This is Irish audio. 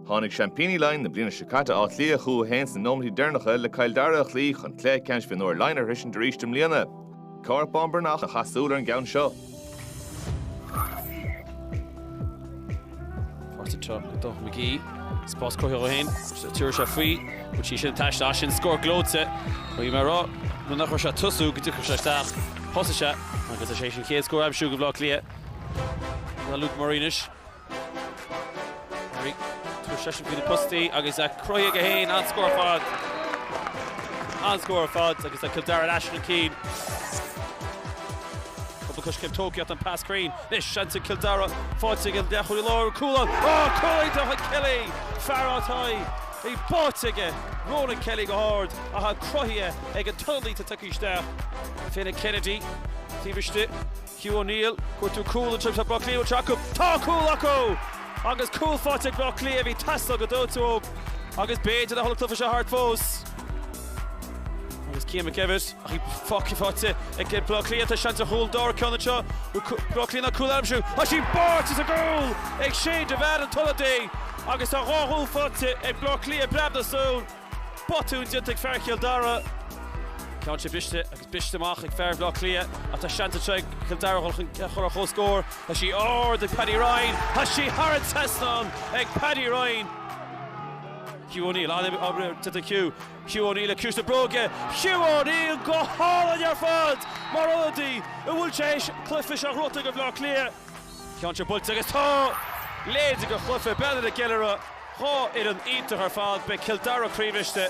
Tháinig seaimpíní Laighean na bliana seo caite, Áth Cliath, chun cinn sna nóiméirí deireanacha le Cill Dara a chloí chun cluiche ceannais mionúir Laighean a shroichint arís i mbliana. Cuán Breathnach a chaith súil ar an gceann seo. Páirt anseo ag Dónal McGee. Spás cruthaithe dó féin. Tabharfaidh sé faoi. Bhain sí sin taistil as sin. Scór gleoite. Caithfidh mé a rá, nuair nach raibh sé ag tosú, go dtiocfadh sé isteach. Thosaigh sé agus is é sin chéad scór a aimsiú ag Bleá Cliath. Ná Luke Murray anois. Murray, tabharfaidh seisean faoi na postaí agus aimsithe aige féin, an-scór ar fad. An-scór ar fad agus tá Cill Dara anois chun cinn. Cúpla coiscéim tógtha acu an pas cruinn. Anois seans ag Cill Dara faighte ag an leathchúlaí láidir, cúl ann. Á! Cúl iontach ag Kelly. Fear atá i bpáirt aige, Ronan Kelly go hard ach cruthaithe ag an t-ionadaí atá ag tíocht isteach. Fiona Kennedy taobh istigh. Hugh O'Neill, Cruthú cúl an Timpiste Bhleá Cliath anseo acu! Tá cúl acu! Agus cúl faighte ag Bleá Cliath a bhí ag teastáil go dóite uathu agus b'fhéidir a tholgfadh sé thart fós. Agus Cian McDevitt, Ach bhí cúl faighte ag Bleá Cliath, tá seans ar chúl an dara ceann anseo. Bhfuil Bleá Cliath in ann cúl eile a aimsiú? Tá sí báite sa gcúl ag Shane de Bhean, an t-ionadaí, agus tá dhá chúl faighte ag Bleá Cliath i bpreab na súl. Botún déanta ag fear Chill Dara. Téann sé briste agus briste amach ag fear Bhleá Cliath ach tá seans anseo ag Cill Dara a dhul chun cinn ar comhscór. Tá sí ard ag Paddy Ryan. Tá sí thar an trasnán ag Paddy Ryan. Hugh O'Neill, an-obair déanta ag Hugh. Hugh O'Neill ag ciumhais na bróige. Hugh O'Neill go hálainn ar fad mar ionadaí a bhfuil sé th'éis an cluiche a thabhairt ag Bhleá Cliath. Ceann atá buailte agus tá deireadh leis an chluiche. Bleá Cliath ag ceiliúradh. Dhá fhoireann iontach ar fad. Beidh Cill Dara croíbhriste.